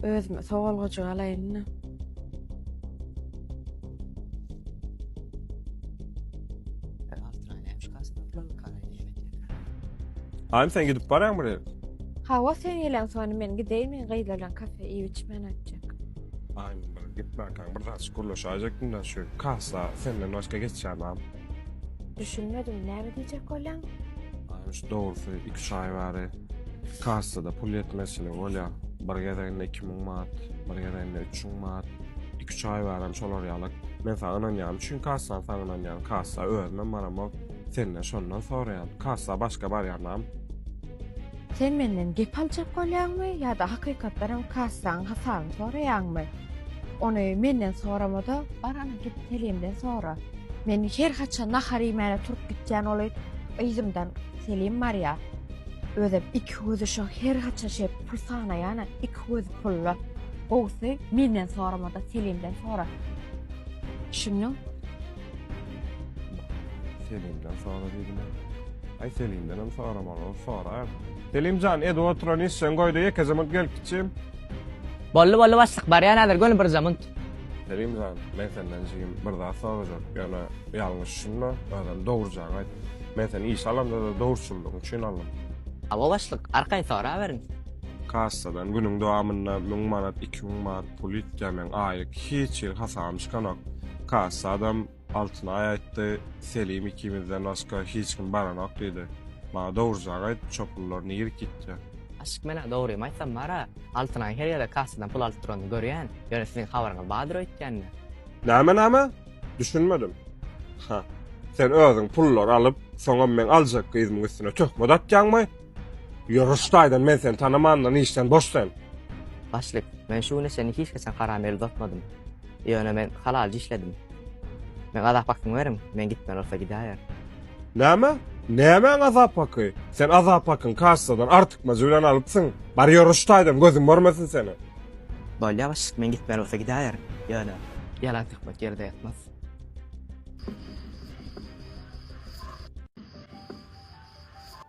Özüme sogalgajyk alaýyn-da. Aým sen gidip barýaň bir ýere? Hawa, sen gelen soň men gideýin, men gyzlar bilen kafe iýip içmän aýtjak. Aým bir gitmänkäň bir zat gürleşäýjekdim-de, şu kassa senden başga geçýän zat. Düşünmedim, näme diýjek bolýaň? Şu dogrusy 2-3 aý bäri kassada pul ýetmezçiligi bolýar. Bir gezeginde 2000 manat, bir gezeginde 3000 manat. 2-3 aý bäri hem şolar ýaly. Men saňa ynanýaryn, çünki kassany saňa ynanýaryn. Kassa özümem baramok. Senden şondan soraýan. Kassa başga barýanam. Sen menden gep aljak bolýaňmy ýa-da hakykatdanam kassaň hasabyny soraýaňmy? Ony menden sorama-da, barana git Selimden sora. Men her haçan nahar iýmäne turup gitýän oly yzymdan Selim barýar. Özem iki gözi şo her haçan şeýle pul sanaýan-a, iki gözi pulda. Gowusy menden sorama-da Selimden sora. Düşündiň? Selimden sora diýdim. Aý Selimden hem soramaly, sora. Selim jan, edi oturan işjeň goýda ýekejemunt gelip kiçim. Bolly bolly başlyk barýan hazir göni bir jamunt. Selim jan, men senden jigim bir zat sorajak, ýöne ýalňyş düşünme, özem dogrujaňy aýt. Men seni işe alamda-da dogruçyllygyň üçin aldym. Hawa başlyk, arkaýyn soraberiň. Kassadan günüň dowamynda müň manat, iki müň manat pul ýitýär, meň aýlyk hiç hili hasabym çykanok. Kassy adam Altynaýa aýtdy, Selim ikimizden başga hiç kim baranok diýdi. Maňa dogrujagy aýt, çopunlar nirek gitjek? Aşyk men-ä dogrymy aýtsam bar-a, Altynaýyň her ýerde kassadan pul alyp duranyny görýän, ýöne siziň habaryňyz bardyr öýtgände. Näme, näme? Düşünmedim. Hä, sen özüň pullary alyp, soňam meň aljak gyzymyň üstüne töhmet atýaňmy? Ýör rüştaýdan men seni tanamandan işden boş sen. Başlyk, men şu güne çenli hiç haçan haram el uzatmadym. Ýöne men halalca işledim. Meň azap hakymy beriň, men gitmeli bolsa gidäýer. Näme? Nämäň azap haky? Sen azap hakyňy kassadan artykmajy bilen alypsyň. Bar ýör rüştaýdan gözüm görmesin seni. Bolýar başlyk, men gitmeli bolsa gidäýer. Ýöne. Ýalan söhbet ýerde ýatmaz.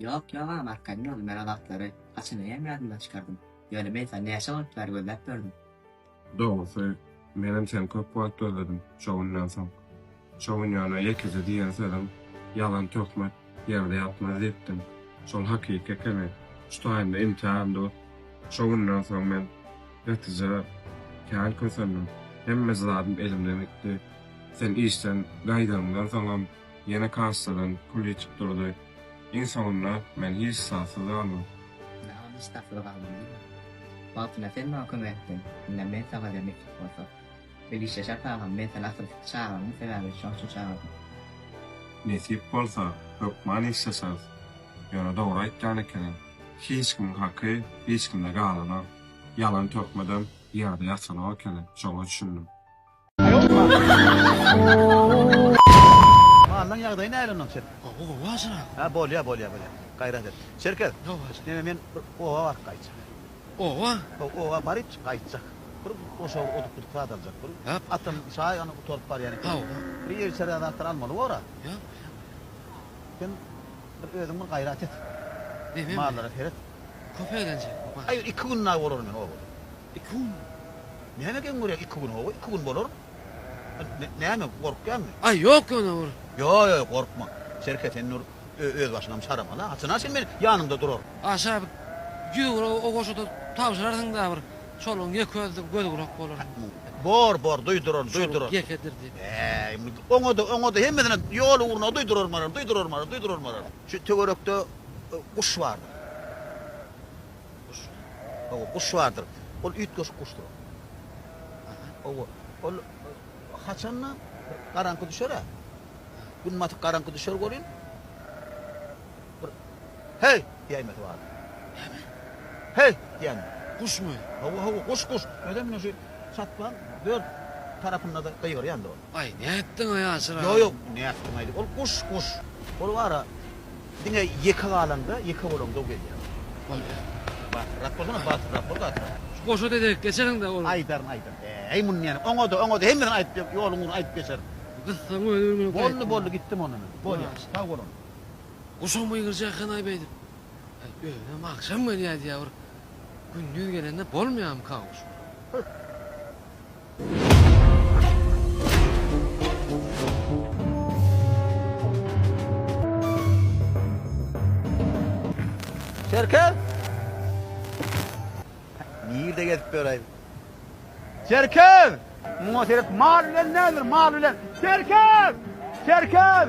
Ýok, ýok agam, arkaýyn boldy, men o wagtlary haçanaýam ýadymdan çykardym. Ýöne men saňa näçe wagt bäri gözläp ýördüm. Dogrusy, menem seni köp wagt gözledim şo günden soň. Şo gün ýöne ýekeje diýen sözüň, Ýalan töhmet ýerde ýatmaz diýipdiň. Şol hakyky ekeni. Şu taýynda imtihany tut. Şo günden soň men gatyja kän kösendim. Hemmeje zadym elimden gitdi. Sen işden gaýdanyňdan soňam Ýene kassadan pul ýitip durdy. Iň soňunda men hiç zatsyz galdym. Ine hany hiç zatsyz galdym diýme. Wagtynda sen maňa kömek etdiň. Indi men saňa ederin itlik bolsa. Bilgiç Reşat agam men seni asyl çagyryňmy sebäbi şoň üçin çagyrdym. Nesip bolsa hökman işleşeris. Ýöne dogry aýtýan ekeniň. Hiç kimiň haky hiç kimde galanok. Ýalan töhmedem ýerde ýatanok ekeni. Şoňa düşündim. Mallaň ýagdaýy nähili onnoň Çerkez? Gowy gowy ajyrak. Hä bolýa bolýa bolýa gaýrat et. Çerkez. Gowy ajy. Neme men bir oba baryp gaýtjak. Oba? Haw oba baryp gaýtjak. Bir goşawur oduk budyk zat aljak bir. Ýap. Atam çaý ony gutaryp barýan eken. Haw. Bir ýer içerä zatlar almaly bor a. Ýap ýap. Sen bir özüň bir gaýrat et. Neme? Mallara seret. Köp eýlenjek bu baş. Aý iki gün dagy bolarum men obada. Iki günmi? Näme geň görýäň iki gün hawa iki gün bolar näme gorkýaňmy. Aý ýok ýone bir. Ýok ýok gorkma Serke sen nur öz başyňam çaramaly a haçana çen men ýanyňda duraryn. Aşa bir ýüz gura o goşuda tabşyrarsyň da bir çolugyň ýeke özi bir göz gurak bolar. Bor bor duýduraryn duýduraryn. Çoluk ýekedirdi. Bäý indi oňada oňada hemmesine ýol ugruna duýduraryn bararyn duýduraryn bararyn duýduraryn bararyn. Şu töwerekde guş bardyr. Guş. Hawa, guş bardyr. Ol üýtgeşik guşdur. Aha, hawa. Ol haçanda bir garaňky düşer-ä. Gün batyp garaňky düşer welin, bir Heý! diýäýmesi bardyr. Näme? Heý! diýen. Guşmy? Hawa, hawa, guş, guş. Özem şu çatlaň dört tarapynda-da gygyrýandyr ol. Aý nätdiňaý Ýaşyr aga. Ýok ýok nätdiňaý diýip ol guş guş. Ol bara diňe ýeke galaňda ýeke bolaňda gelýär. Bolýar. Batyrrak bolsana batyrrak bol batyrrak. Şu goşa dezek geçeriňdä ol. Aýdaryn aýdaryn äý muny näme oňada oňada hemmesini aýdyp ýoluň ugruna aýdyp geçerin. Gyssaň özi öňe gaýtdy. Boldy boldy gitdim onda men. Bolýar sag bolun. Guşam gygyrjak ekenaý beýdip. Aý özünem agşam gelýä diýä bir gündiz gelende bolmaýamyka guş. Çerkez! Nirde gezip ýöräýiň? Çerkez! Muňa seret, mal bilen nädir, mal bilen? Çerkez! Çerkez!